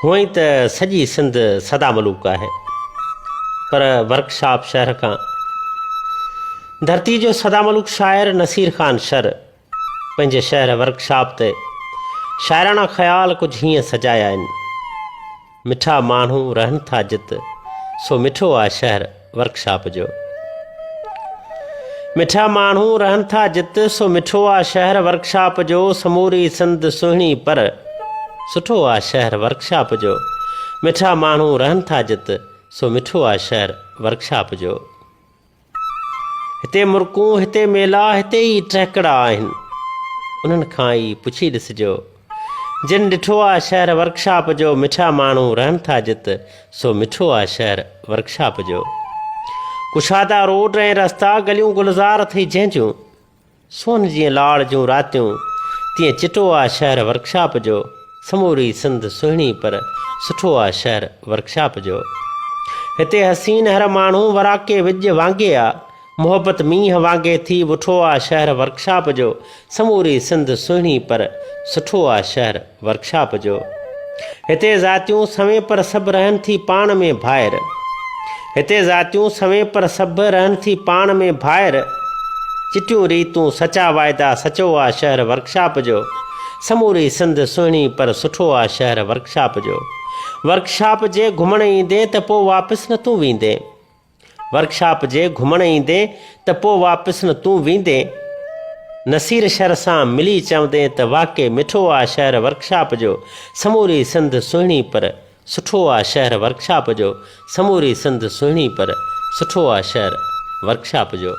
هونئن ته سڄي سنڌ سدا ملوڪ آهي پر ورڪشاپ شهر کان ڌرتي جو سدا ملوڪ شاعر نصير خان شر پنهنجي شهر ورڪشاپ تي شاعراڻا خيال ڪجهه هيئن سجايا آهن مٺا ماڻهو رهن ٿا جت سو مٺو آ شهر ورڪشاپ جو مٺا ماڻهو رهن ٿا جت سو مٺو آ شهر ورڪشاپ جو سموري سنڌ سهڻي پر سٺو آ شهر ورڪشاپ جو مٺا ماڻهو رهن ٿا جت سو مٺو آ شهر ورڪشاپ جو هتي مرڪون، هتي ميلا، هتي ئي ٽهڪڙا آهن. انهن کان ئي پڇي ڏسجو. جن ڏٺو آ شهر ورڪشاپ جو، مٺا ماڻهو رهن ٿا جت، سو مٺو آ شهر ورڪشاپ جو. ڪشادا روڊ ۽ رستا، گليون گلزار اٿئي جنهن جون. سون جيئن لاڙ جون راتيون تيئن چٽو آ شهر ورڪشاپ جو سموري سنڌ سهڻي پر سٺو آ شهر ورڪشاپ جو هتي حسين هر ماڻهو وراڪي وڄ وانگي آ محبت مينهن وانگي ٿي وٺو آ شهر ورڪشاپ جو سموري سنڌ سهڻي پر سٺو آ شهر ورڪشاپ جو هتي ذاتيون سوين پر سڀ رهن ٿي پاڻ ۾ ڀائر هتي ذاتيون سوين پر سڀ رهن ٿي پاڻ ۾ ڀائر چٽيون ريتون سچا واعدا سچو آ شهر ورڪشاپ جو سموري سنڌ سهڻي پر سٺو آ شهر ورڪشاپ جو ورڪشاپ جي گهمڻ ايندين ته پو واپس نه تون ويندين. ورڪشاپ جي گهمڻ ايندين ته پوء واپس نه تون ويندين نصير شھر سان ملي چوندين ته واقعي مٺو آ شهر ورڪشاپ جو سموري سنڌ سهڻي پر سٺو آ شهر ورڪشاپ جو سموري سنڌ سهڻي پر سٺو آ شهر ورڪشاپ جو.